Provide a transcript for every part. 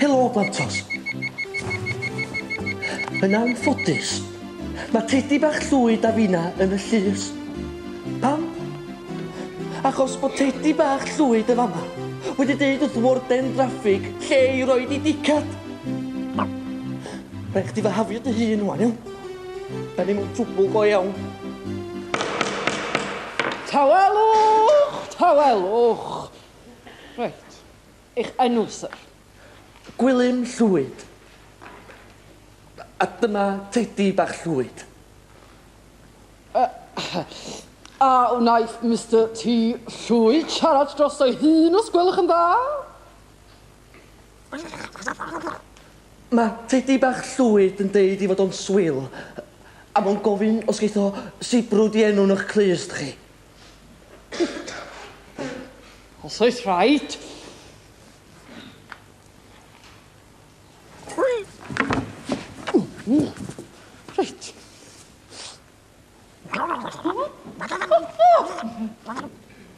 Helo, Blantos. Yn anffodus, mae tedi bach llwyd a fina yn y llys. Pam? Achos bod tedi bach llwyd y fama wedi deud wrth warden draffig lle i roed i dicad. Rhaid chdi fy hafio dy hun wan, iawn? Da ni mewn twbl go iawn. Tawelwch! Tawelwch! Reit. Eich enw, sir? Gwilym Llwyd. A dyma Tedi bach Llwyd. A wnaeth Mister T. Llwyd siarad dros ei hun, os gwelwch yn dda? Mae tedi bach llwyd yn deud i fod o'n swil, a mo'n gofyn os geith o sibrwd i enw yn o'ch clust chi. Os oes rhaid. Reit.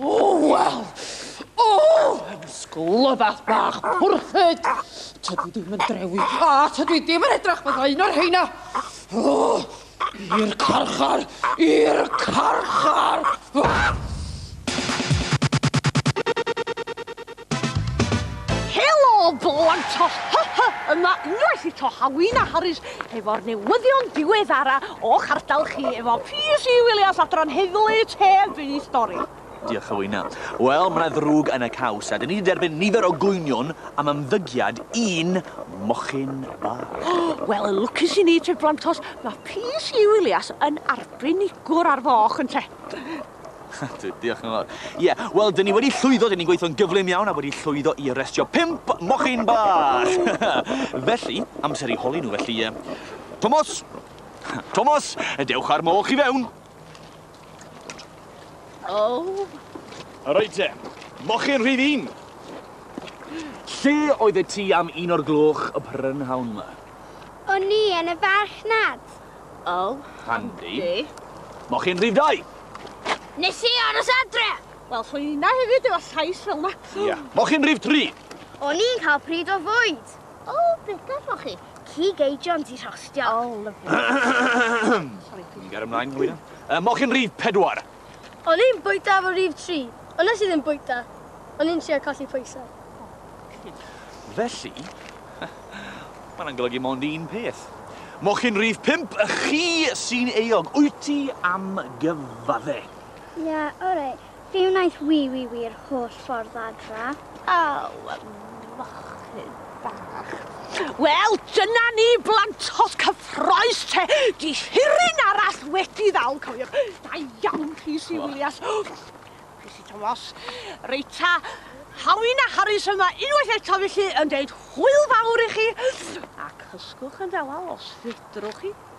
Oh, wel! Oh, yn sglyfath bach pwrthyd! Tydi ddim yn drewi, a tydi ddim yn edrych fydda un o'r heina! Oh, i'r carchar! I'r carchar! Helo blant! Ho ho ho! Yma unwaith eto Hawina Harris efo'r newyddion diweddara o'ch ardal chi efo PC Williams adran Heddlu Tef i Stori. Diolch Hawina. Wel, mae yna ddrwg yn y caws a dyn ni wedi derbyn nifer o gwynion am ymddygiad un mochyn bach. Wel, yn lwcus i ni te blantos, mae PC Williams yn arbenigwr ar foch ynte? Ydw, diolch yn fawr. Ie, wel, dyn ni wedi llwyddo, dyn ni'n gweithio'n gyflym iawn a wedi llwyddo i arestio pimp mochyn bach! felly, amser i holi nhw, felly... Uh, Tomos! Tomos, dewch ar moch i fewn! O! Oh. Rhaid te, mochyn rhydd un! Lle oedd y ti am un o'r gloch y prynhawn yma? O'n i yn y farchnad. Oh. Handi. Handi. Moch chi'n rhif dau! Nes i aros adre! Wel, so yna hefyd efo llais fel yma. Ia. Moch chi'n rhif tri! O'n i'n cael pryd o fwyd. O, beth beth moch chi? Cig eidion di rhostio. Oh, lovely. Sorry. Ni'n gair ymlaen, Hwyna. Uh, moch chi'n rhif pedwar! O'n i'n bwyta efo rif tri, ond nes i ddim bwyta. O'n i'n trio colli pwysau. Felly, mae hwnna'n golygu mond un peth. Mochyn rif pump, chi sy'n euog. Wyt ti am gyfadde? Ie, oreit. Fe wnaeth Wî Wî Wî'r holl ffordd adra. Aw, mochyn bach. Wel, dyna ni, blantos cyffroes te. Di hirin arall wedi ddal, cofiwch. Da iawn, Rhys i Wilias. Rhys i Tomos. Reita, Hawyn a Harris yma unwaith eto felly yn deud hwyl fawr i chi. A cysgwch yn ddewal os fedrwch chi.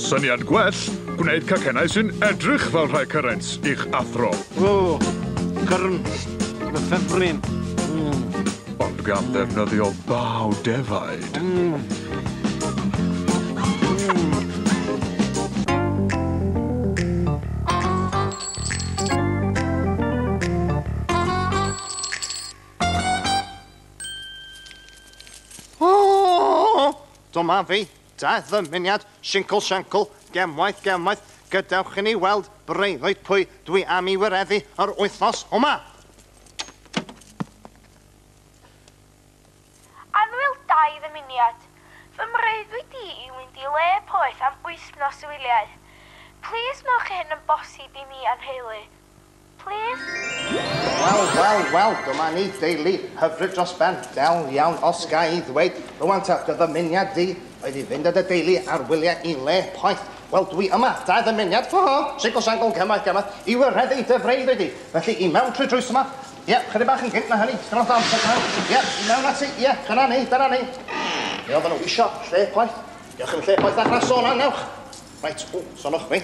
Syniad gwell, gwneud cacennau sy'n edrych fel rhai cyrens i'ch athro. O! Cyrns! Fy ffefryn! Ond gan ddefnyddio baw defaid. O! Dyma fi. Daeth ddymuniad Sincl Shancl, Gemwaith Gemwaith, Gadewch i ni weld, breuddwyd, pwy dwi am i wireddu yr wythnos yma! Annwyl Daeth ddymuniad fy mreuddwyd i i fynd i le poeth am wythnos o wyliau. Plis wnewch hyn yn bosib i mi a'n nheulu. Plîs! Wel, wel, wel, dyma ni, deulu hyfryd dros ben, del iawn os ga i ddweud. Rŵan ta, dy ddymuniad di oedd i fynd â dy deulu ar wyliau i le poeth. Wel, dwi yma, da ddymuniad, ho ho, singl sangl, gymaint gymaint, i wireddu dy freuddwyd di. Felly, i mewn trwy drws yma. Ie, chydig bach yn gynt na hynny, dipyn o ddamp o dan. Ie, i mewn ati, ie, dyna ni, dyna ni. Be oedden nhw isio, lle poeth? Dewch yn lle poeth â grasso yna, newch. Reit, ww, sonwch mi.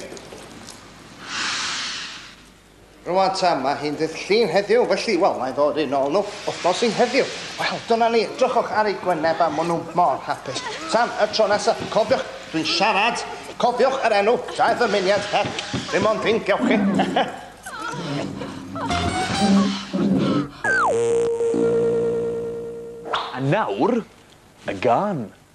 Rwan ta, mae hi'n ddydd llun heddiw, felly, wel, mae'n ddod i'n ôl nhw wythnos i heddiw. Wel, dyna ni, drychwch ar ei gwyneb a maen nhw mor hapus. Tan y tro nesaf, cofiwch, dwi'n siarad, cofiwch yr enw, da i ddymuniad her, dim ond fi'n gewch chi. A nawr, y gân.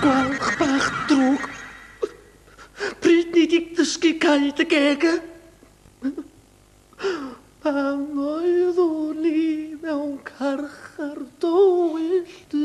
Gwalch bach drwg. Pryd ni di dysgu cael dy geg e? Pan oeddwn i mewn carchar dywyll dy.